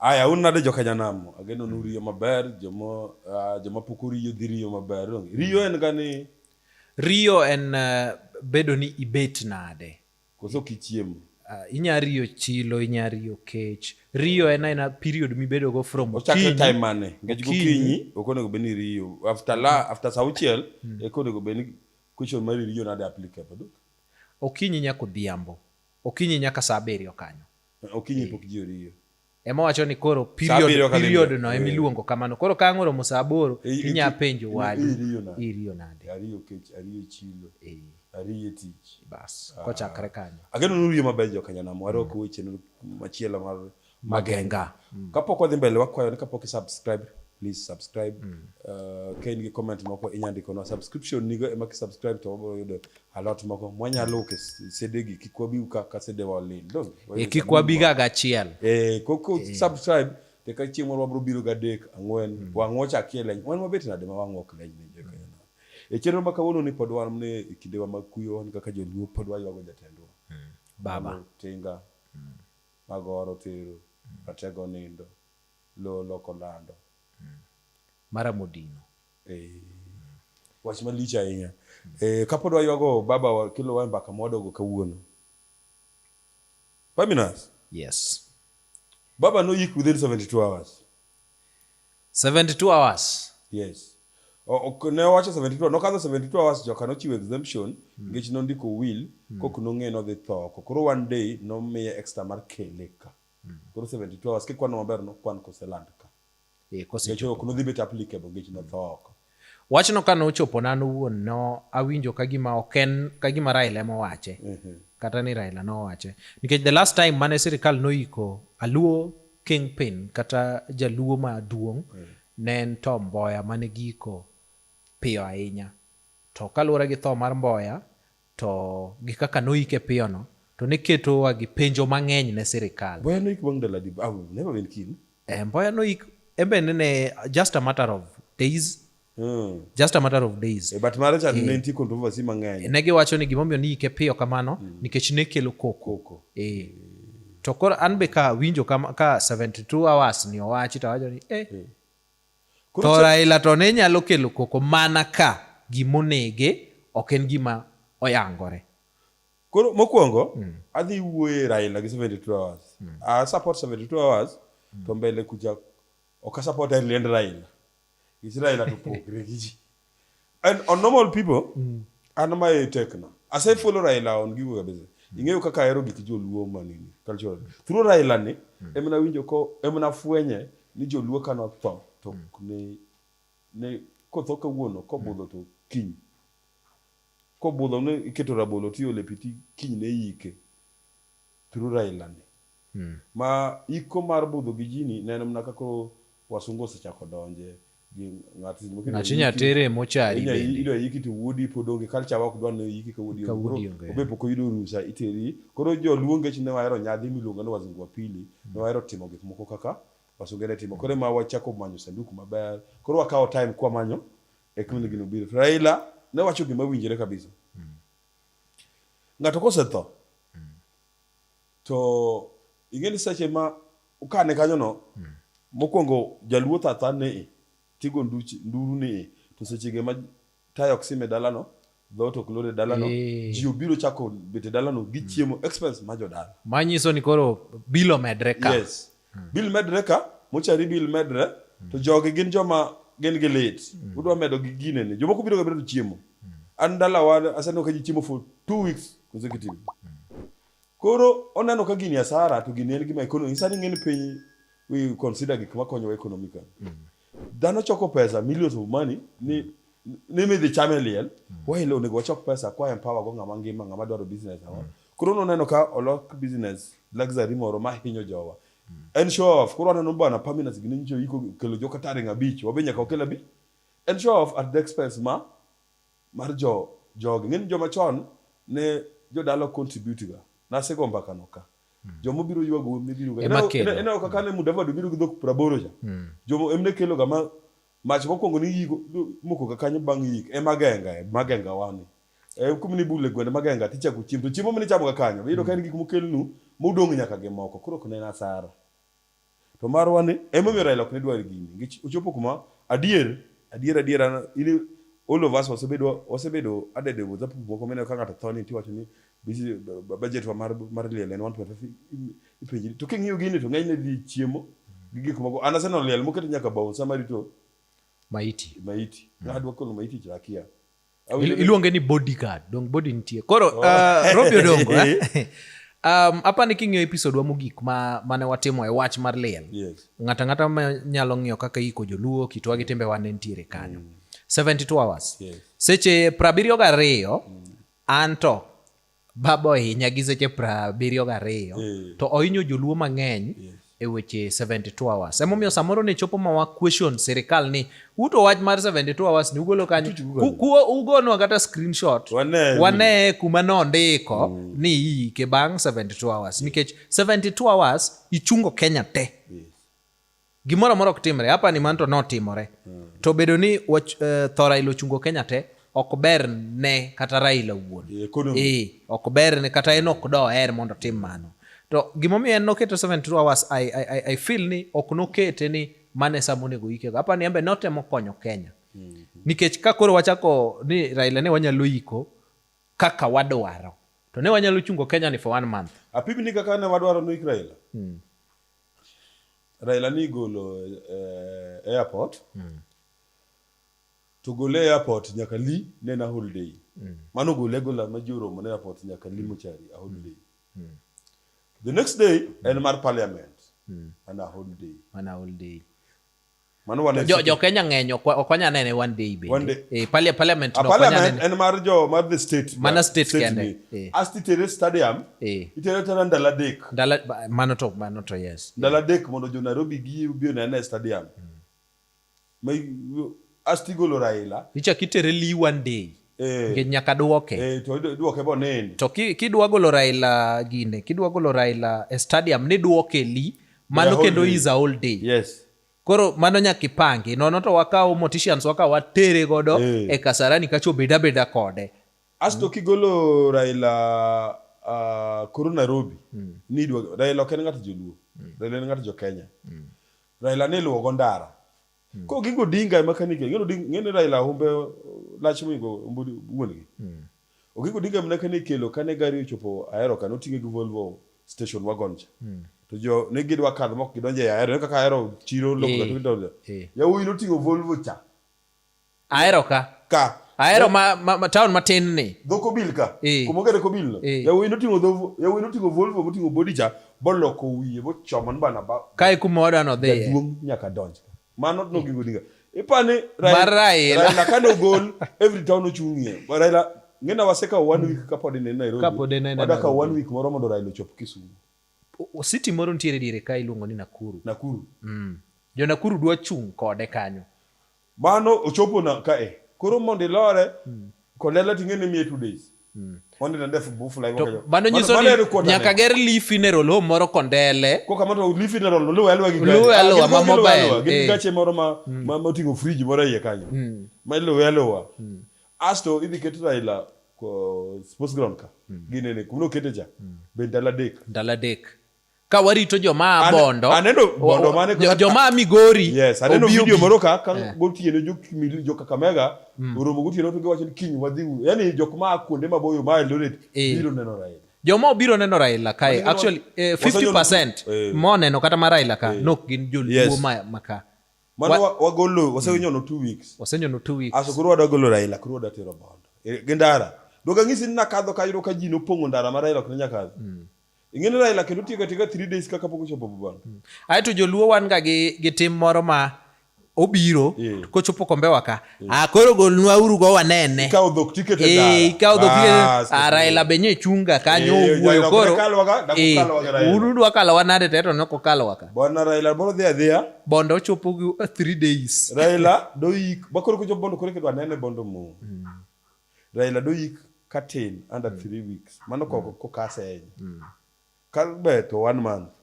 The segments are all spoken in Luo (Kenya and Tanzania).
Aya, un nade joka Janam? Ageno nu riyo maber, joma uh, joma pok oriyo dhi riyo maber. Riyo en gani Riyo en eh, bedo ni ibet nade. Koso kichiemo. Uh, inya riyo chilo, inya riyo kech. Riyo en aina period mibedo go from okinyi. Ochakre time mane? Nikech gokinyi ok onego bed ni riyo. After la, after saa auchiel hmm. eka onego bed ni question mar riyo nade applicable. Duk. Okinyi nyaka odhiambo. Okinyi nyaka saa abiriyo kanyo. Okinyi pok ji oriyo. ema wacho ni koro period period no ema eh. iluongo kamano koro ka ang'oro musa aboro eh, eh, inya penjo wadu iriyo nade ariyo kech ariyo chilo eh ariyo tich bas ah. kochakre kanyo ageno nuriyo maber jo kanyana mwaro ko weche machielo mar magenga mm. kapok wadhi mbele wakwayo ni kapok subscribe please subscribe mm. uh, ka in gi comment moko inyandiko na subscription nigo ema ki subscribe to wabiro yudo alot moko mwanyalo uke sedegi kik wabi uka ka sedewa olil donge e kik wabi ga gachiel e koko e. subscribe te ka chieng' moro wabro biro ga dek ang'wen mm. wang'o chakie leny wan mabet nade ma wang'o ok leny ne joka mm. yana e chenro ma kawuono ni pod wan ne e kinde wa makuyo wan kaka joluo pod waywago jatendwa mm. baba tinga mm. magoro tero mm. ratego nindo lolo kolando mm. mara modino Wach malich ahinya. Eh, kapod waywago baba wa kilo wa mbaka mwadogo kawuono. Faminas? Yes. Baba no yik within 72 hours. 72 hours? Yes. Ok, ne owacho 72 nokadho 72 hours joka nochiwo exemption mm. nikech nondiko will mm. kok nong'e nodhi tho oko koro one day nomiye extra mar kele ka mm. koro 72 hours kikwano maber nokwan koseland ka Eh, kosechopo. Ok nodhi bet applicable nikech notho oko. Wachno ka nochopo na nowuon no awinjo ka gima ok en ka gima Raila ema owache. Mhm. Kata ni Raila nowache. Nikech the last time mane sirikal noiko Aluo kingpin kata Jaluo maduong' mm. ne en Tom Mboya mane giko piyo ahinya. To kaluwore gi tho mar Mboya to gi kaka noyike piyono to ne ketowa gi penjo mang'eny ne sirikal. Mboya noyik bang' ndalo adi? I've never been killed. Eh, Mboya noyik embe nene just a matter of days Hmm. just a matter of days Eh, but mare cha Eh. ne nitie controversy mang'eny. ne giwacho ni gimomiyo niyike piyo kamano nikech ne kelo koko Koko. eh. to koro an be ka winjo kama- ka 72 hours ni owachi to awacho ni eh, To Raila to ne nyalo kelo koko mana ka gima onege ok en gima oyangore. Koro mokwongo mm. adhi wuoye Raila gi 72 hours. Mm. I support 72 hours mm. to mbele kuja ok support Raila. Is Raila to pogre gi ji. And on normal people, mm. an ma e tekna. Ase mm. follow Raila on gigo kabisa. Mm. Ing'eyo kaka ahero gik joluo manini cultural. Through Raila ni mm. emna winjo ko emna fwenye ni joluo kano tho to mm. ne ne kotho kawuono kobudho mm. to kiny. Kobudho ne iketo rabolo tiole piti kiny ne yike. through Raila ni. Mm. Ma iko mar budho gi jini neno mna ka koro wasungu osechako donje gi ng'ati mo kendo. Ng'ati nyatere mo chari bende. Ido yiki to wuodi pod onge kalcha wa kudwa ne yiki ka wuodi onge. Obe poko yudo rusa iteri. Koro jo luonge chine wa ero nyadhi miluonga no wazungu apili. Mm. No ero timo gik moko kaka wasungu ero timo. Koro ma wachako manyo sanduku maber. Koro wakawo time kwa manyo. Ekmini gino biro. Raila ne wacho gima winjire kabisa. Ng'ato kosetho mm. to ing'e ni seche ma kane kanyono mm. mokwongo jaluo thatha ni i tigo nduru ni i to sechege ma tayo ok sime dalano dhoot ok lore dalano eh. ji obiro chako bete dalano gichiemo mm. expense ma jodala manyiso ni koro bilo medre ka yes Bil medre ka, mochari bil medre, to jogi gin joma gin gi lit. Udwa medo gi gine ni. Jomoko biro ga biro to chiemo. An dalawa aseneno ka ji chiemo for two weeks consecutive. Koro oneno ka gini asara to gini en gima ekonomi. Sani ng'eni piny we consider gik makonyowa economically. Dhano choko pesa, millions of money, ni ni midhi chame liel, waelo onego wachok pesa kwa empower go ng'ama ngima, ng'ama dwaro business awa. Koro noneno ka olok business luxury moro ma hinyo jowa. En show off. Koro aneno bana Pamina Siginenjo iko kelo joka taring abich, wabe nyaka okel abich. En show off at the expense ma mar jo jogi. Ng'eni joma chon ne jodala contribute ga. Nasego mbaka no ka. Hmm. Jomo biro ywago emne biro ga. Ema kelo. Ena kaka hmm. ne Mudavadi biro gi dhok praboro cha. Hmm. Jomo emne kelo ga ma mach mokwongo ni yiko moko ga kanyo bang' yik ema genga ema genga wani. E kum ni bule gwende magenga ticha ku chiemo. Chiemo mene chamo ga kanyo. Biro ka en gik mokelnu mudong' nyaka gi moko. Koro ok ne nasara. To marwa ni emomiyo Raila ok ne dwar gini. Nikech ochopo kuma adier adier adier an ili all of us wasebedo wasebedo added with up moko mene ka ng'ato tho ni tiwacho ni budget wa mar mar liel en 1.5 ipenji to king'iyo gini to ng'enyne dhi chiemo gi gik moko an aseno liel moket nyaka bouncer marito maiti maiti mm. adwa kolo maiti chakia Il- iluonge ni bodyguard dong body nitie koro uh, robi odongo eh? um, apa ni king'iyo episodwa mogik ma, mane watimo e wach mar liel Yes. ng'ato ang'ata ma nyalo ng'iyo kaka iko joluo kitwa gi timbewa ne nitiere kanyo 72 hours Yes. seche prabiriyo gariyo anto Baba ohinya gi seche prabiriyo gariyo mm. to ohinyo joluo mang'eny yes. e weche 72 hours emomiyo samoro ne chopo mawa question sirikal ni uto wach mar 72 hours ni ugolo kanyo ugonwa kata screenshot waneye kuma nondiko mm. ni iike bang' 72 hours nikech 72 hours ichungo kenya te yes. gimoro amora ok timre hapa ni manto notimore mm. to bedo ni wach, uh, tho raila ochungo kenya te ok ber ne kata raila wuon e, ok ber ne kata en ok doher mondo otim mano to gimomiyo en noketo 72 hours I, I, I, I feel ni ok nokete ni mane sa monego yikego hapa ni embe notemo konyo kenya mm -hmm. nikech ka koro wachako ni raila ne wanyalo yiko kaka wadwaro to ne wanyalo chungo kenya ni for one month apim ni kaka ne wadwaro ni raila mm. Raila ni golo eh, airport mm. to gole airport nyaka li ne na holiday mm. mano gole gola ma joro mo airport nyaka li mochari a holiday mm. mm. the next day mm. en mar parliament mm. ana holiday ana holiday Mano wane jo, jo Kenya ng'eny ok wanya nene one day be. One day. Eh, parliament, parliament no parliament en mar jo mar the state. Mana state, state kende. Eh. Asti tere stadium. Eh. Itere tera ndala dek. Ndala mano to mano to yes. Ndala dek mondo jo Nairobi gi bi onene stadium. Hmm. Mai asti golo Raila. Icha kitere li one day. Eh. Nikech nyaka duoke. Eh, to duoke bo nene. To ki kidwa golo Raila gine, kidwa golo Raila e stadium ni duoke li mano kendo is a whole day. Yes. Koro mano nyaka ipangi. Nono to wakawo morticians wakawo watere godo eh. e Kasarani kacho beda beda kode. Asto mm. kigolo Raila uh, koro Nairobi mm. ni dwa Raila ok en ng'ato joluo. Mm. Raila en ng'ato jo Kenya. Mm. Raila ne luwo go ndara. Hmm. Ko gigo dinga ema kani ke ngeno ding ngene Raila humbe lach mi go mbudi wuongi. Hmm. Ogigo dinga ema kani kelo kane gari ochopo aero kano tinge gi Volvo station wagon cha. Hmm. To jo ne gidwa kadho mok gidonje aero kaka aero chiro lokga to gidonje. Yawuoyi notingo Volvo cha. Ahero ka. Ka. Ahero ma, ma, ma town matin ni. Dho Kobil ka. Eh. Kuma ogere Kobil no. Eh. Yawuoyi noting'o dho yawuoyi noting'o Volvo moting'o body cha boloko wiye bochomo bana ba. Kae kuma wadwa no dhiye. Jaduong' nyaka donj. Mano nogingo dinga. Ipani Mar Raila. Raila kane ogol every town ochung'ie. Raila ng'ina wasekawo one week kapod ine Nairobi. Kapod ine Nairobi. Wadakawo one week moro mondo Raila ochop Kisumu. O- City moro nitiere diere ka iluongo ni Nakuru. Nakuru. Mm. Jo Nakuru dwa chung' kode kanyo. Mano ochopo na ka e. Koro mondo ilore, mm. kolela ting'e ni miye two days. Mm. Onde na ndefu bufu la iwakayo. Mano nyiso ni nyaka ger Lee Funeral Home moro kondele. Koka mato Lee Funeral Home, luwe alwa gigani. Luwe alwa, ah, ma mobile. Gini eh. gache moro ma, mm. ma, ma tingo fridge moro iye kanyo. Mm. Ma luwe alwa. Mm. Asto, idhi ketu Raila ko sports ground ka. Mm. Gine ne, kumno kete ja. Mm. Be ndala dek. Ndala dek. ka warito joma a bondo aneno bondo mane joma a migori yes aneno video moro ka ka yeah. gotieno jo kimili jo kakamega mm. oromo gotieno to giwacho ni kiny wadhi u yani jok ma kuonde maboyo ma eldoret eh. biro neno raila joma obiro neno raila kae actually eh, 50% eh. moneno kata ma raila ka eh. nok gin joluo yes. ma, ma ka mano wa, wagolo wasenyono mm. two weeks wasenyono two weeks aso koro wadagolo raila koro wadatero bondo e, gi ndara dogang'isi ni nakadho kayudo ka ji nopong'o ndara ma raila ok ne nyakadho mm. ing'eni Raila kendo tiyo katiga 3 days kaka pok ochopo bubano hmm. aeto joluo wan ga gi, gi tim moro ma obiro yeah. kochopo kombewa ka yeah. akoro ah, golnwa uru go wanene ikawo dhok tiket e ikawo dhok tiket ah, Raila benye chunga kanyo yeah, wuoyo koro eh, uru dwa kalo wanade teto noko kalo waka bwana Raila boro dhia dhia bondo ochopo gi 3 days Raila doik bakoro kochopo bondo kore kedwa nene bondo mu mm. Raila doyik katin under mm. three weeks mano koko mm. kokase ahinya mm. kabe to one month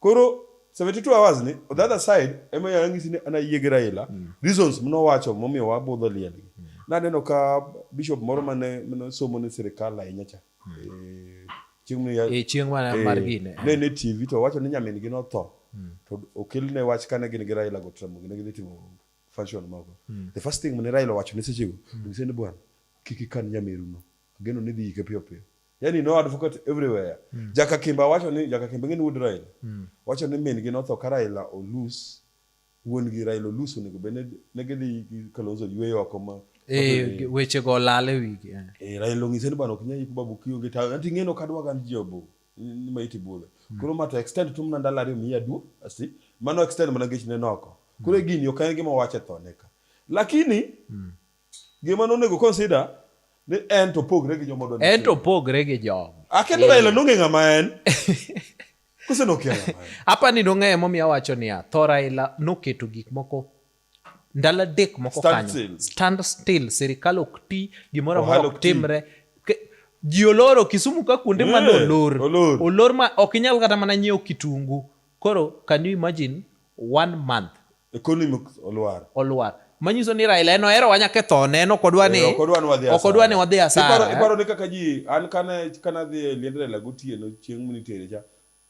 koro 72 hours ni on the other side ema yangisi ni ana yie gi Raila mm. reasons mno wacho momiyo wabudho liel gi mm. naneno ka bishop moro mane mano somo ni sirikal ahinya cha mm. e, chieng' mane e, chieng' mane e, mar gine eh. ne ne TV to wacho ni nyamin gi notho mm. to okelne wach kane gin gi Raila go tramo gine gidhi timo function moko mm. the first thing mane Raila owacho ne sechego mm. ngise ni bwana kik ikan nyameruno ageno ni dhi yike piyo piyo yani no advocate everywhere mm. jaka kimba wacho ni jaka kimba ngin wood Raila mm. wacho ni min gi notho ka Raila olus wuon gi Raila olus onego bene ne gidhi Kalonzo yweyo oko ma Eh, weche go olal e wigi eh. eh, raila ong'ise ni bwana ok nyal yik babu kionge tawe anti ng'eno kadwa gan jobo ni ma iti bule mm. koro ma to extend tum na ndalo ariyo miya du asi mano extend mana gech ne noko mm. koro gini ok en gima wache tho ne ka lakini mm. gima no nego consider ni en to pogre gi jomo don en to pogre gi jom akendo yeah. ila nonge ngama en kose nokela apa ni nonge mo mi awacho ni a thora ila noketo gik moko ndalo adek moko kanyo stand still sirikal ok ti gimoro amora ok timre ji oloro kisumu ka kuonde mane olor olor ma ok inyal kata mana nyiewo kitungu koro can you imagine one month economy olwar olwar manyiso ni Raila en ohero wanya kethone en ok odwa ni eh, ok odwa ni wadhi asara iparo ni kaka ji an kane kane adhi e liend Raila gotieno chieng' mnitere cha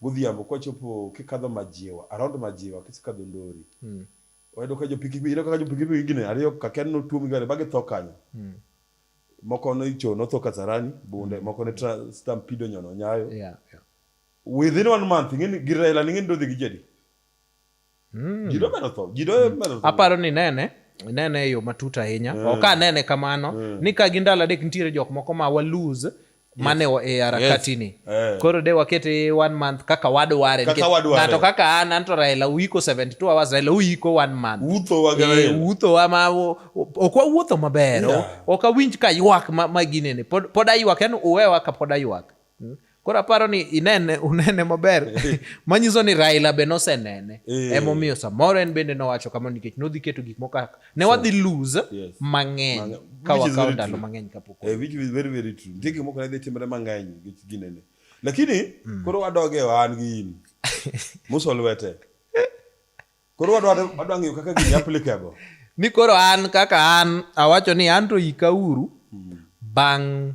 godhiambo kwachopo kikadho majiwa around majiwa kisekadho ndori mm. wayudo ka jopikipiki ineno kaka jopikipiki gine ariyo kaken notuom gare ba githo kanyo mm. moko noicho notho kasarani bunde mm. moko ne stampido nyono nyayo yeah, yeah. within one month ing'eni girela ning'eni dodhi gi jadi Mm. Ji domedo tho, ji domedo tho. Aparo ni nene inene e yo matut ahinya mm. ok anene kamano mm. ni ka gi ndalo adek nitiere jok moko ma wa lose mane yes. e harakatini yes. Eh. koro de wakete one month kaka wadware ng'ato kaka an anto raila uiko 72 hours raila uiko one month wuuthowa eh, ma ok wawuotho maber yeah. ok awinj ka ywak ma, ma ginene pod, pod aywak en uwewa ka pod aywak Hmm? Koro aparo ni inene unene maber manyiso ni Raila be nosenene eh. emomiyo samoro en bende nowacho kamano nikech nodhi keto gik moko ne wadhi lose yes. mang'eny ka wakawo ndalo mang'eny kapok eh, which is very very true nitie gik moko ne dhi timre mang'eny nikech ginene lakini mm. koro wadoge e wan gi in muso lwete koro wadwa ng'eyo kaka gini applicable ni koro an kaka an awacho ni an to ikauru mm. bang'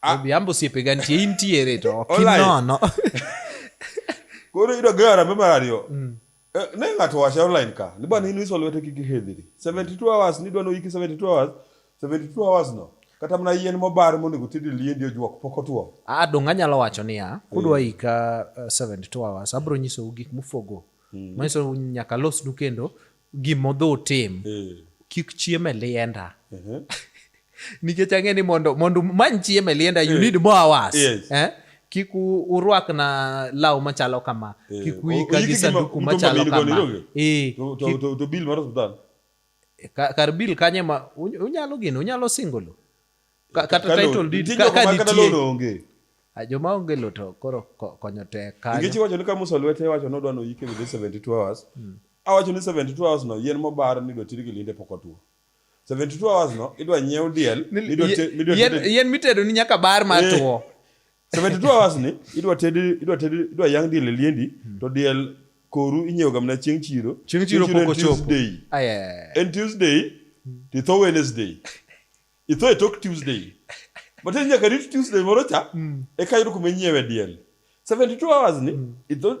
Ah. Odhiambo osiepe ga nitie intiere to ok inono. Koro iyudo gi arambe mar ariyo. Mm. Eh, ne ng'ato wache online ka ni bwana inwiso lwete kik ihedhiri 72 hours ni dwano iki 72 hours 72 hours no kata mana yien mobar monego tedi liendi ojuok pok otuo a ah, donga nyalo wacho niya kudwa mm. ika 72 eh, hours abro nyisou gik mufogo mm. manyiso nyaka losnu kendo gimodhi utim eh. kik chiem e lienda nikech ang'e ni mondo mondo many chiem e lienda you eh. need more hours yes. eh? kik urwak na law machalo kama eh. kik uika gi sanduku machalo kama eh, to bill mar hospital kar bill kanye ma unyalo gino unyalo singolo Ka- kata Kalo- title deed nitie ka- jok ka ma kata nitie. loan onge Ah, joma onge lo to koro ko- konyo tek nikech kanyo iwacho ni ka musa lwete iwacho ni odwa ni oyike within 72 hours awacho ni 72 hours no yien mobar ni idwa tiri gi linde pok otwo 72 hours no idwa nyiew diel Ni- midwa te- midwa yien- tede- yien mitedo ni nyaka bar ma Eh. two 72 hours ni idwa tedi idwa tedi idwa yang diel e liendi to diel koru inyiewo gamna chieng' chiro chieng' chiro pok ochopo en tuesday to itho wednesday itho e tok tuesday but en nyaka rit tuesday moro cha hmm. eka yudo kuma inyiewe diel 72 hours ni hmm.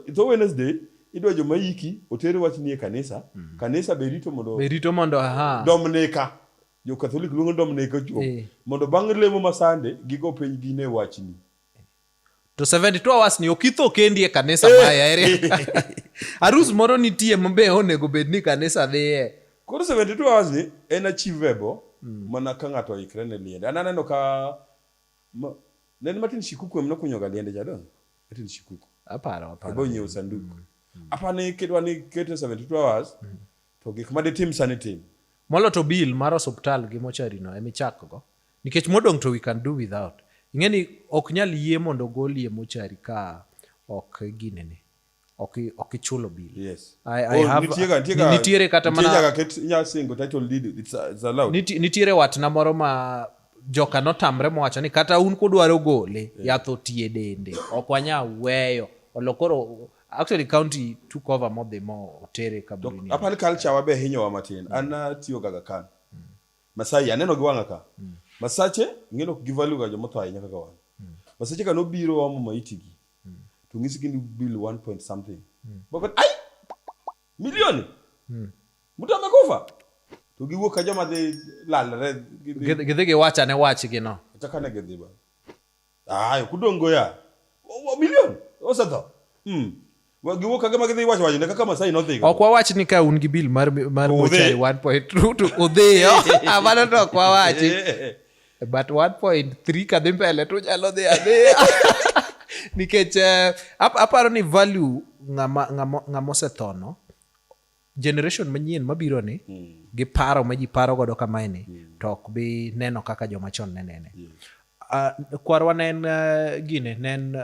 itho wednesday idwa joma yiki oter wach nie kanisa hmm. kanisa be rito mondo be rito mondo aha domnika jo katholik luongo ni dominika chuo eh. mondo bang' lemo ma sande gigo piny gine wachni to 72 hours ni okitho kendi e kanisa eh. maya ere arus moro nitie mabe onego bed ni kanisa dhiye koro 72 hours ni en achievable mm. mana ka ng'ato oikre ne liende an aneno ka ma, nen matin shikuku emno kunyoga liende jadon matin shikuku aparo aparo bo nyiewo sanduku mm. mm. apani kedwa ni kete 72 hours mm. To gik ma ditim sani tim. Molo to bill mar osuptal gi mochari no ema ichakgo. Nikech modong' to we can do without. Ing'e ni ok nyal yie mondo ogoli e mochari ka ok ginene. Ok i- ok ichulo bill. Yes. I, I Oh, have, nitiega- nitiega- nitiere kata nitie mana nyaka ket- inyalo singo title deed, it's, uh, it's allowed. Niti- nitiere watna moro ma joka notamre mowacho ni kata un kudwaro gole yath otie dende ok wanyal weyo olo koro Actually county took over mob the more otere to kaburini. apani culture wabe hinyowa matin an natiyo gaga kan masai aneno gi wang'a ka masache ing'eno ok givalue ga jomotho ahinya kaka wan masache ka nobiro omo maitigi to ng'isi gini bill 1 point something Baba, ai milioni mtu amekufa to giwuok ka joma dhi lalre gidhi- Gidhi giwacha ne wachgi no. kata kane gidhi ba Ah, ok udong' go ya. Bilion osetho. Hmm. Giwuok kage ma gidhi wacho wacho ne kaka Masai nodhi. Ok wawach ni ka un gi bil mar mar mochari 1.2 to udhiyo. Amano to ok wawachi. But 1.3 kadhi mbele to nyalo dhi adhiya. Nikech uh, aparo ni value ng'ama ng'ama ng'ama osethono generation manyien mabiro ni mm. gi paro ma ji paro godo kamae ni mm. to ok bi neno kaka joma chon ne nene yeah. uh, kwarwa ne en uh, gine ne en uh,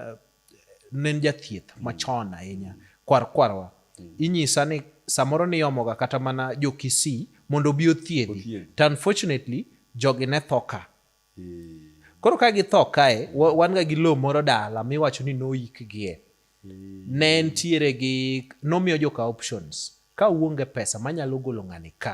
ne en jathieth mm. machon ahinya kwar kwarwa mm. inyisa ni samoro niyomoga kata mana jokisi mondo obi othiedhi to unfortunately jogi ne thoka Koro ka githo kae, wan ga gi lowo moro dala miwacho ni noikgie. Ne ntiere gi, nomiyo joka options. Ka uonge pesa manyalo golo ng'ani ka,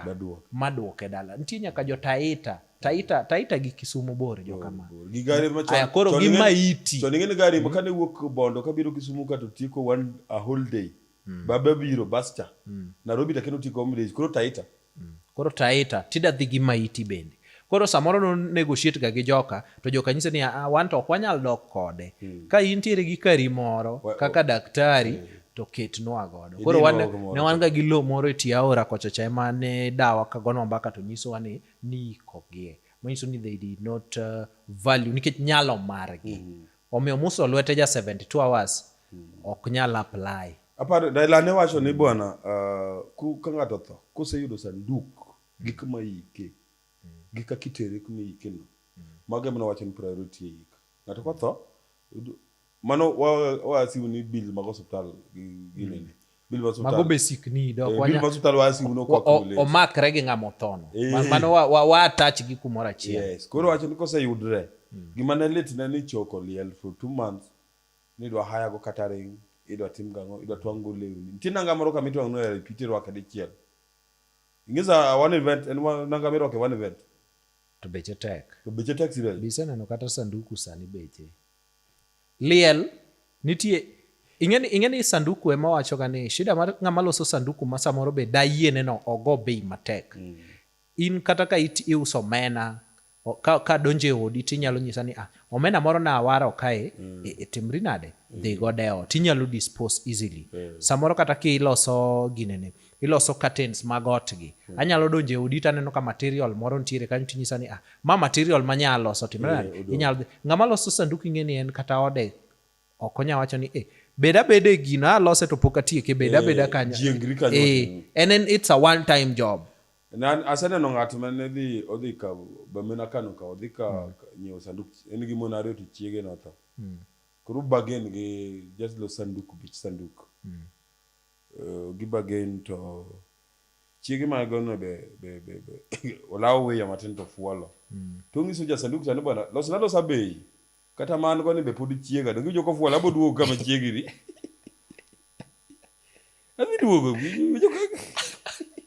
madwoke dala. Nitie nyaka jo Taita, Taita, Taita gi Kisumu bor jo kama. Gi gari ma chon. Koro gi maiti. Chon ing'e ni gari ma kane wuok Bondo kabiro Kisumu ka to tieko one a whole day. mm. baba biro bascha mm. narobi to kendo tiko mlej koro taita mm. koro taita tida dhi gi maiti bende koro samoro no negotiate ga gi joka to joka nyise ni ah, wan to ok wanyal dok kode mm. ka intiere gi kari moro we, kaka daktari mm. to ketnwa godo koro wan, ne wan ga gi lo moro e tie aora kocha cha ema ne dawa ka gonwa mbaka to nyisowa ni niikogie manyiso ni they did not uh, value nikech nyalo margi mm. Omiyo Musa olwete ja 72 hours ok nyal apply. Aparo Dailane wacho ni bwana uh, ka ng'ato tho koseyudo sanduk gi kama ike gi kaka itere kuma ike no mago emana wacho ni priority eik ng'ato kotho mano wasiu ni bill mag osiptal gi nene mago be sikni omakre gi ng'ama othono eh. mano waatach gi kumoro achiel koro wacho ni koseyudre hmm. gima ne litne ni choko liel for two months nidwa hayago kata ring idwa tim gang'o idwa twang'go lewni nitie nanga moro kama itwang'no e pite rwake dichiel ing'isa one event en nanga mirwake one event to beche tek to beche tek sibel biseneno kata sanduku sani beche Liel nitie ing'eni ing'eni sanduku ema wacho ga ni shida mar ng'ama loso sanduku ma samoro be dayiene no ogo bei matek. Mm. In kata ka it iuso mena ka, ka donje odi tinyalo nyisa ni ah, omena moro na awaro kae mm. e, e timri nade mm. dhi go deo tinyalo dispose easily mm. samoro kata ki loso ginene iloso curtains mag otgi. Hmm. Anyalo donjo e odi to aneno ka material moro nitiere kanyo to inyisa ni ah, ma material ma nyalo loso timre nade? Eh, inyalo ng'ama loso sanduku ing'e ni en kata ode ok onya wacho ni eh, bed abeda e gino alose to pok atieke bed eh, abeda kanyo. Jiengri kanyo. Eh, and then it's a one time job. Nan aseneno ng'at ma ne dhi odhi ka bamena Kano ka odhi ka hmm. nyiewo sanduk en gi mon ariyo to chiege notho. Hmm. Koro bagen gi just lo sanduk bich sanduk. Gibagen to chiege mago no be, be, be, be olawo wiya matin to fuolo. Mm. To onyiso ja sanduk cha ni bwana los na losa bei. Kata man go ni be pod chiega donge joko fuolo abo duogo kama chiegi ni. Abi duogo.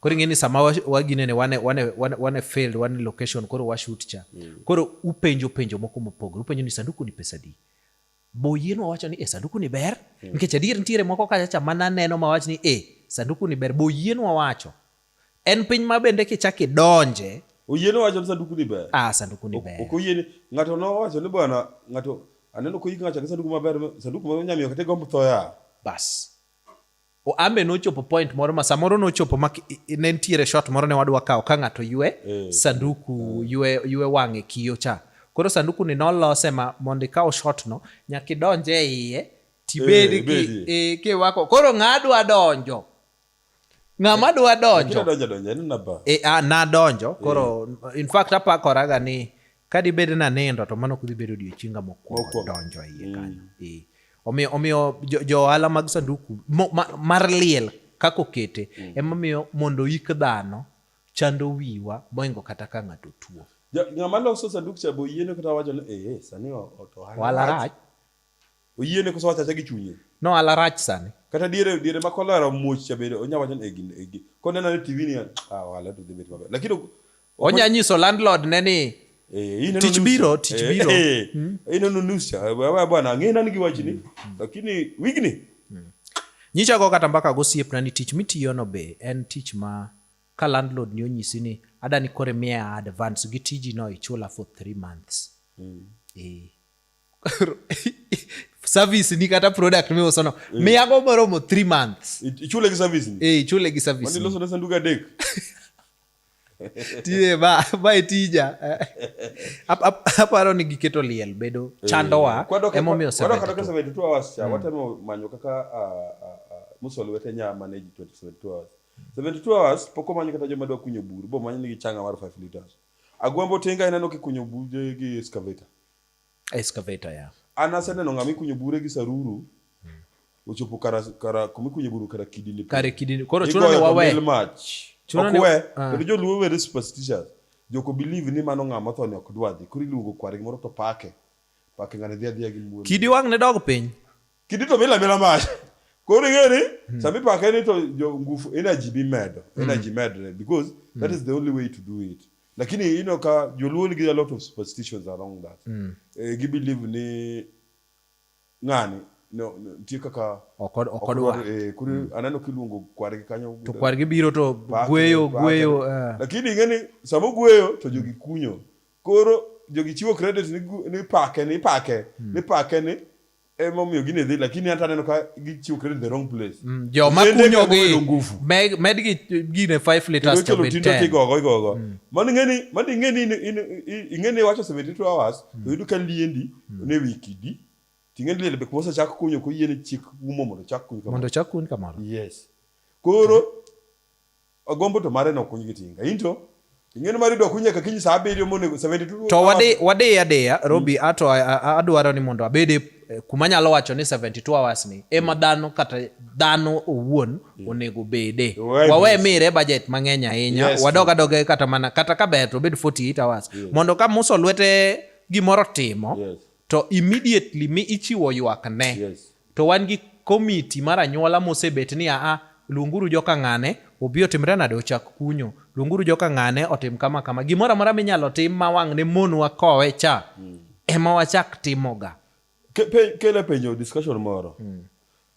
Koro ing'e ni sama waginene wane, wane, wane, wane failed wane location koro washut cha mm. Koro upenjo penjo moko mopogore, upenjo ni sanduku ni pesa di boyien wawacho ni e sanduku ni ber mm. nikech adier nitiere moko kacha cha mana neno ma wach ni e sanduku ni ber boyien wawacho en piny ma bende kichak idonje oyiene wacho ni sanduku ni ber ah sanduku ni ber ok oyiene ng'ato nowacho ni bwana ng'ato aneno koyik ng'acha gi sanduku maber sanduku ma nyamiyo kata gombo thoya bas ambe nochopo point moro ma samoro nochopo ma ne nitiere shot moro ne wadwa kawo ka ng'ato ywe mm. sanduku ywe, ywe wang'e kiyo cha koro sanduku ni nolose ma mondo ikaw shot no nyaka idonje e iye tibed eh, ki, e, kiwako koro ng'adwa donjo ng'ama eh, dwa donjo nadonjo eh, ah, koro in fact apakoraga ni Ka dibed ni anindo to mano ok dhi bedo odiechienga mokwongo donjo e iye kanyo. Mm. Omiyo omiyo jo ohala mag sanduku mar liel kaka okete mm. emomiyo mondo ik dhano chando wiwa moingo kata ka ng'ato tuo. Ng'ama loso sanduk cha boyiene kata wacho ni ee eh, sani ohala rach. oyiene koso wachacha gi chunye no ala rach sani kata diere diere ma kolera muoch cha bende onya wacho e gin e gin konena ne tv ni ah wala to dibet maber lakini onya nyiso landlord ne ni eh, tich biro tich eh, biro eh, hmm? ino no news cha wewe bwana ngina ni giwachini hmm. lakini wigni hmm. nyicha go kata mbaka go siep na ni tich mitiyo no be en tich ma ka landlord ni onyisi ni ada ni kore miya advance gi tiji no ichula for 3 months mm. eh service ni kata product mi usono eh. mi ago moromo 3 months ichule gi service ni eh ichule gi service ni loso na sanduga dek tie ba ba tija ap ap aparo ni giketo liel bedo eh. chandowa emo mi osebedo kwa kata 72 hours cha mm. watemo manyo kaka musol wete nya manage 72 hours 72 hours poko manyo kata joma dwa kunyo buru bo manyo ni gi changa mar 5 liters agwambo tenga ineno kikunyo buru gi excavator Excavator, yeah. An aseneno ng'ama ikunyo bure gi saruru hmm. ochopo kara kara kuma ikunyo buru kara kidini. Kare kidini. Koro chuno ni wawe. Mach. Chuno ni wawe. Ah. Kendo joluo were superstitious. Joko believe ni mano ng'ama tho ni ok dwadhi. Koro iluongo kware gimoro to pake. Pake ng'ane dhi adhiya gi muolo. Kidi wang' ne dog piny. kidi to mila mila mach koro ing'eyo ni hmm. sama ipake ni to jo ngufu energy bi medo hmm. energy medre because hmm. that is the only way to do it lakini you know ka joluo nigi a lot of superstitions around that mm. eh, gi believe ni ng'ani no, no nitie kaka okod okodwa eh, kuri mm. aneno kiluongo kwargi kanyo to kwargi biro to gweyo gweyo uh. lakini ing'eni sama ogweyo to jogi kunyo koro jogi chiwo credit ni, ni pake ni pake mm. ni pake ni ema omiyo gine dhi lakini hata aneno ka gichiwo credit the wrong place mm, jo makunyo gi nguvu med, med gi gine 5 liters to be 10 kigogo igogo mm. mani ngeni mani ngeni ingeni wacho 72 hours mm. to yudu ka liendi mm. ne wiki di tingeni lele bek mosa chak kunyo ko yene chik umo mondo chak kunyo kamano mondo chak kunyo kamano yes koro Agombo to mare nokuny gi tinga. Into ing'eno mari dok unyaka kiny saa abiriyo monego 72 to wadi wadi adeya mm. robi mm. ato adwaro ni mondo abede eh, kuma nyalo wacho ni 72 hours ni ema mm. dhano kata dhano owuon yeah. onego bede wawe mire budget mang'eny ahinya yes, wadog adoge kata mana kata ka ber to obed 48 hours yeah. mondo ka muso lwete gimoro timo yes. to immediately mi ichiwo ywak ne yes. to wan gi komiti mar anyuola mosebet ni aa luonguru joka ng'ane obi otimre nade ochak kunyo luonguru joka ng'ane otim kama kama gimoro amora minyalo tim ma wang' ne monwa kowe cha mm. ema wachak timoga kele penjo discussion moro mm.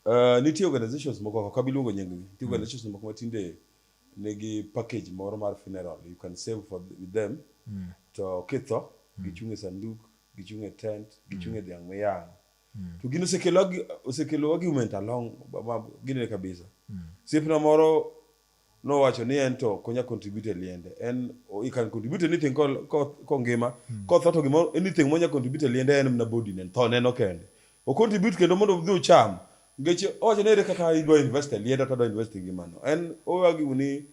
uh, nitie organizations moko kaka biluongo nying gi nitie mm. organizations moko matinde nigi package moro mar funeral you can save for with them mm. to kitho mm. gichung' e sanduk gichung' e tent, gichung' e mm. dhiang' miyang'. Mm. To gin osekelo argument along ginene kabisa. Mm. Siepna moro nowacho ni en to konya contribute e liende. En you can contribute anything kongima. Mm. Kotho to gimoro anything monya contribute e liende en mna body nen tho neno kende. O contribute kendo mondo odhi ocham. Ngeche owacho ni ere kaka idwa invest e liende to odwa invest e ngimano. En owagiwu ni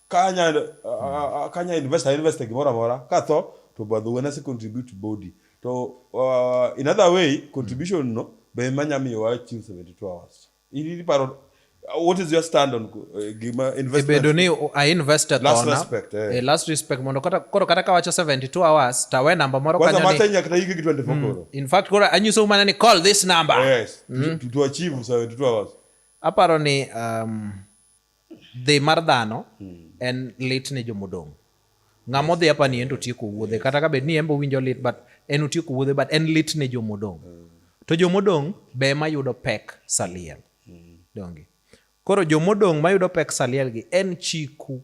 kanya uh, kanya investor invest gimoro amora katho to badho wen ase contribute body to uh, in other way contribution no be manya miyo wa chiw 72 hours ili paro what is your stand on uh, gima investment bedo ni a investor last tona, respect eh. eh. last respect mondo kata koro kata kawacho 72 hours tawe namba moro kwanza mata nya kata yiki 24 mm. koro in fact koro anyiso umana ni call this number yes mm. to, to achieve 72 hours Aparo ni um, dhi mar dhano hmm. en lit ne jomodong'. Ng'ama odhi apa ni en to tieko wuodhe kata ka bed ni en bo winjo lit but en otieko wuodhe but en lit ne jomodong'. Hmm. To jomodong' be ema yudo pek saliel. Hmm. Donge. Koro jomodong' mayudo pek saliel gi en chiku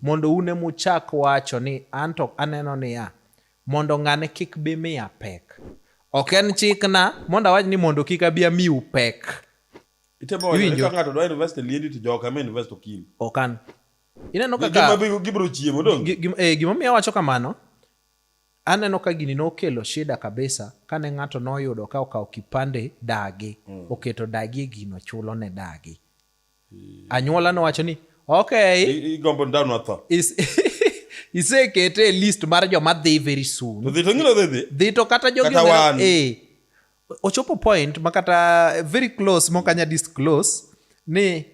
mondo un ema uchak wacho ni an to aneno niya mondo ng'ane kik bi miya pek. Ok en chikna mondo awach ni mondo kik abi amiu pek. Itemo wacho ni Iwinjo? ka ng'ato dwa invest e liendi to joka ema invest okil. okan ineno Gima kaka bi- gibiro chiemo dong'. gi- gi- eh, gimomiyo awacho kamano aneno ka gini nokelo shida kabisa kane ng'ato noyudo ka okawo kipande dagi oketo dagi e gino chulo ne dagi anyuola nowacho ni ok I- Igombo ni dhano otho. is- isekete e list mar joma dhi very soon To dhi to ng'ino dhi dhi. dhi to kata jogi Kata oneno- wan. eh, ochopo point makata eh, very close mokanya disclose ni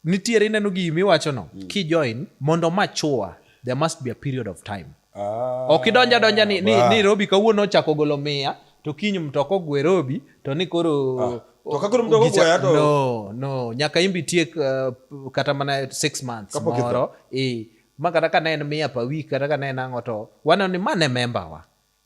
nitiere ineno gi miwacho no mm. kijoin mondo machua there must be a period of time ah, ok idonja donja ni, ni, ni robi kawuono ochako golo mia to kiny mtoko ogwe robi to ni koro ah. To ka koro mdogo goya to no no nyaka imbi tiek uh, kata mana 6 months moro eh ma kata ka ne en mia pa week kata ka ne en ang'o to waneno ni mane member wa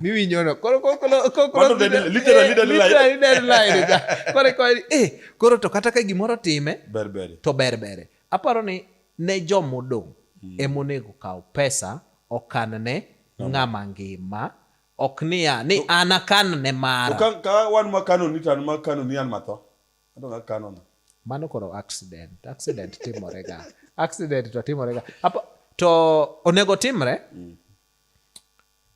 mimi nyono koro koro koro literally dead line dead line koro koro eh koro to kata ka gimoro time berbere to berbere aparo ni ne jomodong hmm. emonego kaw pesa okan ne ng'ama ngima ok niya ni an akan ne mara ka wan makano ni tan makano ni an matho ato akano na mano koro accident accident timore ga accident to timore ga to onego timre mm.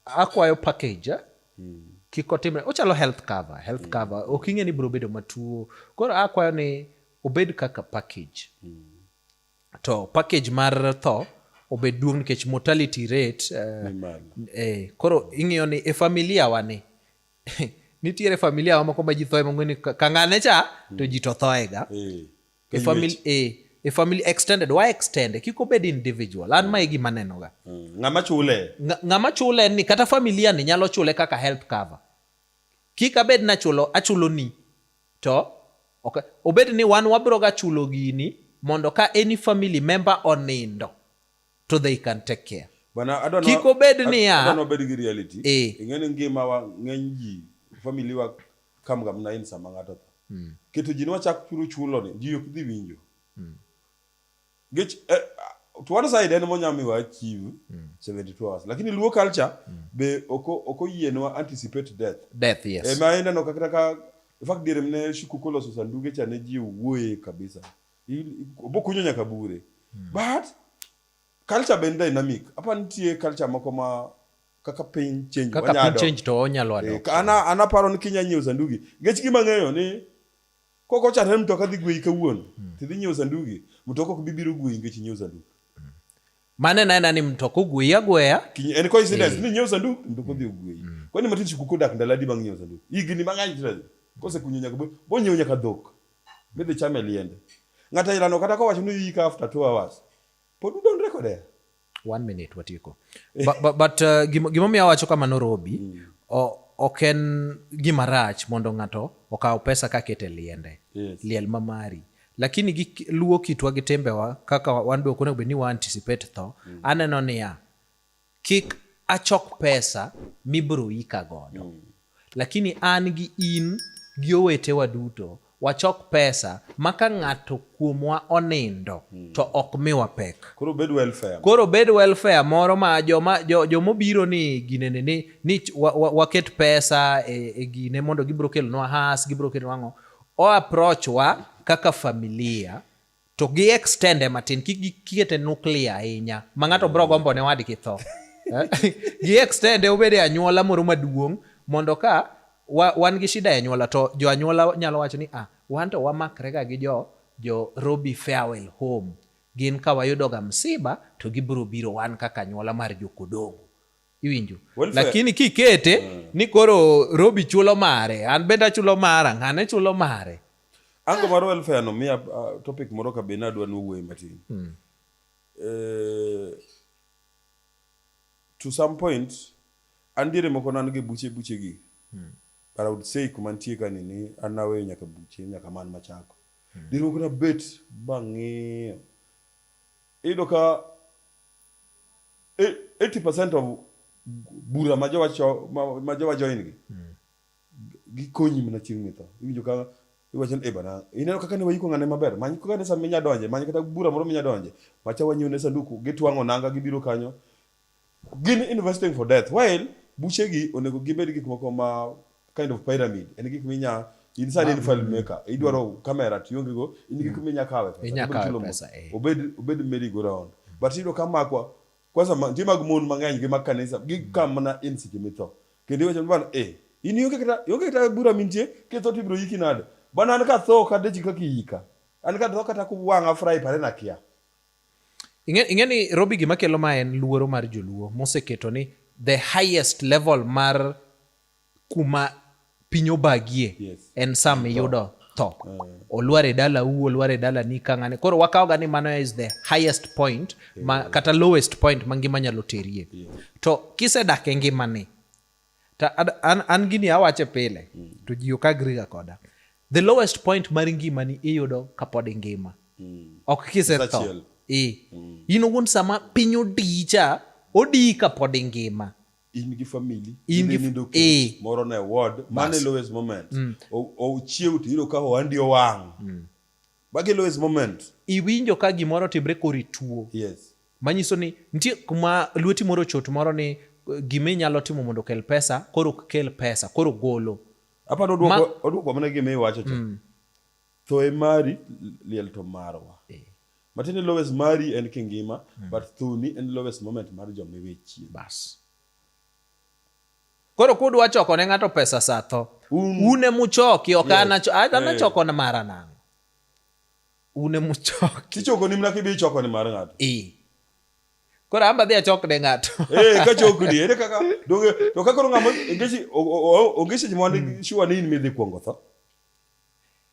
akwayo package eh? mm. kik otimre ochalo health cover health mm. cover ok ing'e ni biro bedo matuo koro akwayo ni obed kaka package mm. to package mar tho obed duong nikech mortality rate uh, eh, koro ing'eyo ni e familia wa ni nitiere familia wa moko ma ji thoe mong'e ni kang'ane cha to ji to thoega eh. A family, a, a family extended wa extend kiko bed individual an mae gima nenoga mm. ng'ama chule ng'ama chule ni kata familia ni nyalo chule kaka health cover kik abed na chulo achulo ni to okay. obed ni wan wabiro ga chulo gini mondo ka any family member onindo to they can take care. Bana adwa no. Kiko bed ni ya. Adwa no bed gi reality. Eh. Ingene ngima wa ng'eny ji family wa kam gam na in sama ng'ato tho. Mm. Keto ji nwa chak churu chulo ni ji ok dhi winjo. Mm. Gech eh, to one side en monya mi wa achieve mm. 72 hours. Lakini luo culture mm. be oko oko yienwa anticipate death. Death yes. E ma ina no kakata ka in fact dire mne shukukolo susanduge cha ne ji wuoye kabisa. bokunyo nyaka bure mm. but culture be en dynamic apa nitie culture moko ma kaka piny change kaka piny change to onyalo eh, adok ana ana paro ni kinya nyiewo sandugi ngech gima ng'eyo ni koko chare mtoka dhi gweyi kawuono mm. tidhi nyiewo sandugi mtoka ok bibiro gweyi ngech nyiewo sandugi hmm. mane naena ni mtoka ogweyi agweya en coincidence eh. ni nyiewo sandugi mtoka dhi ogweyi hmm. kwani matin sikuku dak ndaladi bang' nyiewo sandugi higni mang'eny tira kosekunyo nyaka bo nyiewo nyaka dhok midhi chame liende. Ng'ata ilano kata kowacho ni yika after two hours. Pod udon reko there. One minute watieko. but, but, but uh, gimomiyo awacho kamano Robi, mm. o, ok en gima rach mondo ng'ato okaw pesa kakete liende. Yes. Liel mamari. Lakini gi luo kitwa gi tembewa kaka wan be ok onego bed ni wa anticipate tho. Mm. Aneno niya, kik achok pesa mibiro ika godo mm. lakini an gi in gi owetewa duto wachok pesa ma ka ng'ato kuomwa onindo mm. to ok miwa pek koro bed welfare, koro bed welfare moro ma joma jomobiro ni ginene ni, ni waket wa, wa pesa e, e gine mondo gibiro kelonwa has gibiro kelonwa ang'o o approach wa kaka familia to gi extende matin kik gikete nuklia ahinya ma ng'ato bro gombo ne wadgi tho eh? gi extende obed e anyuola moro maduong' mondo ka wa, wan gi shida e anyuola to jo anyuola nyalo wacho ni ah, wan to wamakrega gi jo jo Robi Farewell Home gin ka wayudoga msiba to gibiro biro wan kaka anyuola mar jokodongo iwinjo lakini kikete mm. ni koro robi chulo mare an bende achulo mara ng'ane chulo mare ango mar welfare no miya uh, topic moro ka bende adwa nowuoye matin mm. eh, to some point an diere moko nan gi buche buche gi mm. but i would say kuma nitie ka nini an naweyo nyaka buche nyaka man machako mm. diere moko na bet bang'iyo iyudo ka 80% of bura ma jowa cho ma, ma jowa join gi mm. gikonyi mana chieng' mitho iwinjo ka iwacho ni ebana eh, ineno kaka ne wayiko ng'ane maber many kaka ne sama inya donje many kata bura moro minya donje macha wanyone sanduku gitwang'o nanga gibiro kanyo gin investing for death while buchegi onego gibed gik moko ma kind of pyramid en gik minya in sani in file maker idwaro kamera to ionge go in gik minya kawe pesa Inya Obed kawe kilo mo- pesa, eh. obed obed merry go round but iyudo ka makwa kwanza ma- nitie mag mon mang'eny gi mag kanisa gi ka mana in seche mitho kendo iwacho ni bana eh in ionge kata ionge kata bura mintie kitho to ibiro yiki nade bana an ka tho kata chika kiyika an ka tho kata kuwang'a fry pare na kia Ing'e ing'e ni Robi gima kelo ma en luoro mar joluo moseketo ni the highest level mar kuma piny obagie yes. en sama iyudo tho uh. olwar e dala u olwar e dala ni kang'ane koro wakawoga ni mano is the highest point yeah. ma, kata lowest point ma ngima nyalo terie yeah. to kisedak e ngimani to an, an gini awache pile mm. to ji ok agriga koda the lowest point mar ngimani iyudo kapod ingima mm. ok kisetho e mm. in owuon sama piny odicha odii kapod ingima in gi famili in gi nindo ke eh. moro na ward mane lowest moment mm. o chiew to iro ka ohandi owang mm. bagi lowest moment iwinjo ka gimoro timre kori tuo yes manyiso ni nitie kuma lweti moro chot moro ni eh, gima inyalo timo mondo kel pesa koro kel pesa koro golo apa no duoko oduoko mana gima iwacho cha mm. thoe mari liel to marwa eh. matiende lowest mari en kingima mm. but thuni en lowest moment mar joma iwe chien bas koro kudwa choko ne ng'ato pesa sa tho um. une muchoki ok yes. anachoko eh. na mara nang'o une muchoki tichoko ni mna kibi ichoko ni mar ng'ato e koro amba dhi achok ne ng'ato eh ka chok ni ere kaka donge to ka koro ng'amo ngechi ongechi jimwa ni mm. shuwa ni in midhi kuongo tho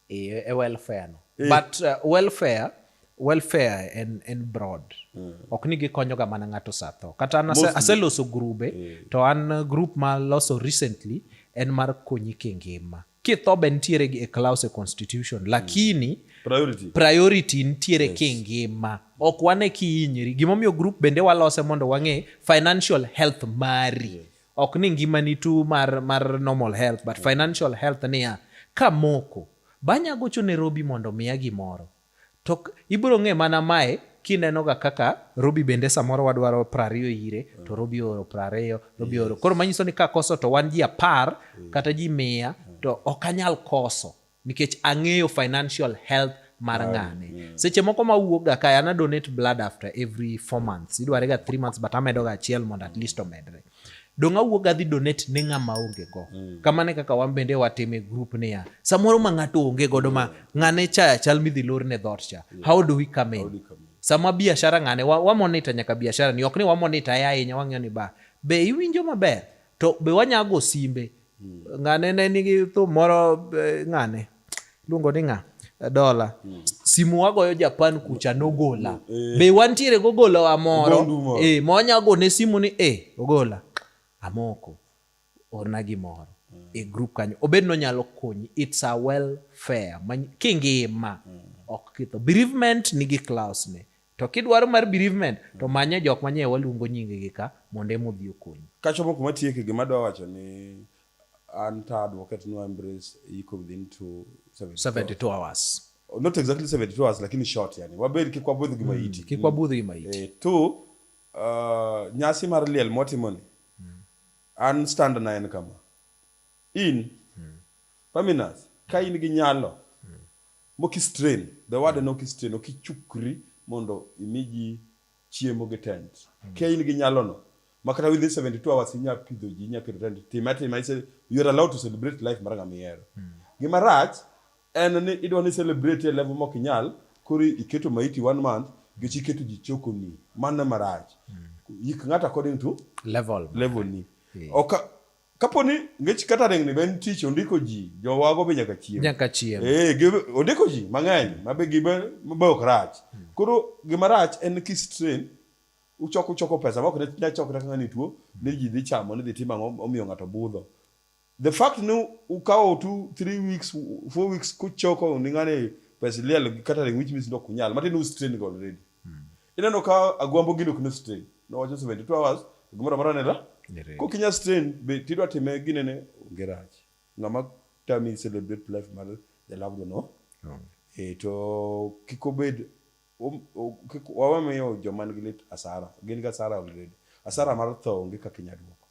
e, e welfare no eh. but uh, welfare welfare en, en broad mm. ok ni gikonyoga mana ng'ato satho kata an aseloso grube eh. to an uh, group ma loso recently en mar konyi kingima kitho be nitiere e clause constitution mm. lakini mm. priority, priority nitiere yes. kingima ok wane kihinyri gimomiyo group bende walose mondo wang'e financial health mari yeah ok ni ngimani tu mar, mar normal health but financial health niya kamoko banya gocho ne Robi mondo miya gimoro to ibiro ng'e mana mae kinenoga kaka Robi bende samoro wadwaro prariyo ire to Robi oro prariyo Robi oro koro manyiso ni ka koso to wan ji apar kata ji mia to ok anyal koso nikech ang'eyo financial health mar ah, ng'ane mm. seche moko ma wuokga kae ana donate blood after every four months idware ga three months but amedoga achiel mondo at least omedre dong awuoga dhi donate ne ng'ama onge go mm. kamane kaka wan bende watime group niya samoro ma ng'ato onge godo ma ng'ane chaya chal midhi lor ne dhot cha how do we come in sama biashara ng'ane wamonita wa nyaka biashara ni ok ni wamonita ya ahinya wang'eyo ni ba be iwinjo maber to be wanyago simbe Hmm. Ng'ane ne nigi thum moro eh, ng'ane luongo ni ng'a dola hmm. simu wagoyo Japan kucha nogola hmm. eh. be wantiere gogola wa moro eh, monya gone simu ni eh, ogola amoko orna gimoro e group kanyo obed nonyalo konyi it's a welfare kingima ok kitho bereavement nigi class ne To kidwaro mar bereavement to hmm. manye jok manye waluongo nyingegi ka mondo ema odhi okonyi. Kachopo kuma tieke gima adwa wacho ni an ta advocate no embrace iko within 2 72 hours. Oh, not exactly 72 hours lakini short yani. Wabed kik wabudh gi hmm, maiti. Kik wabudh gi maiti. Eh, tu uh, nyasi mar liel motimoni. Hmm. An stand na en kama. In Paminas, ka in gi nyalo Mokistrain, the word en okistrain, ok ichukri mondo imi ji chiemo gi tent. Kia in gi nyalono, ma kata within 72 hours inya pidho ji, inya keto tent, time atima, ise- you are allowed to celebrate life mar ng'ama ihero. Gima rach en ni idwa ni celebrate e level mok inyal, koro iketo maiti one month, nikech iketo ji chokoni. Mano ema rach. Yik ng'ato according to Level. level ni. Yeah. Oka, kapo ni ngech kata ring ni ben tich ondiko ji jowago be nyaka chiem nyaka chiem eh gi ondiko ji mang'eny mabe gi be mabe ok rach hmm. koro gima rach en ki strain uchoko uchoko pesa ma ok ne nya chokre kaka ni tuo ni ji dhi chamo ni dhi timo ang'o omiyo ng'ato budho the fact ni ukawo two three weeks four weeks kuchoko ni ng'ani pesa liel kata ring which means ndok kunyal matin u strain go already Mm. Ineno ka agwambo gino kino strain. No wacho 72 hours gimoro amora nela. Ko kinya strain be tidwa time gine ne onge rach. Ng'ama tami celebrate life mar the loved one. No? Oh. E to kiko bed wawamiyo joma nigi lit asara. Gin ga asara already. Asara mar tho onge kaka inya duoko.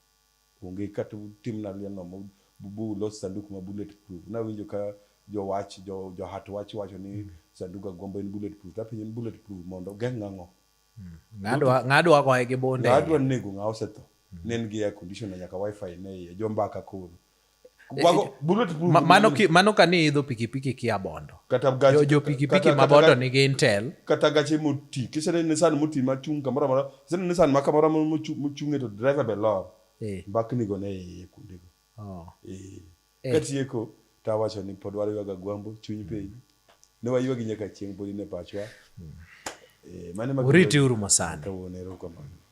Onge kata utimna liel no mo bu- bu ulos sanduk ma bullet proof. Nawinjo ka jowach jo johat wach wacho ni sandug agombo en bullet proof. Tapenjo ni bullet proof mondo ogeng' ang'o? Ng'adwa ng'adwa goye gi bunde. Ng'adwa nego ng'a osetho. Ne en gi air conditioner nyaka wifi ne iye. Jo mbaka koro. mano, ki, mano ka ni idho pikipiki kia bondo kata gachi, jo, jo pikipiki ma bondo nigi intel kata gache moti kisene nisan moti ma chung kamoro amora kisene nisan ma kamoro amora mochung'e to driver be lor eh. mbakni go ne iye kuonde go oh. eh. eh. katieko to awacho ni pod warwaga gwambo chuny mm. piny ne waywagi nyaka chieng' podi ne pachwa mm. eh, mane uriti uru masani kawuono erokamano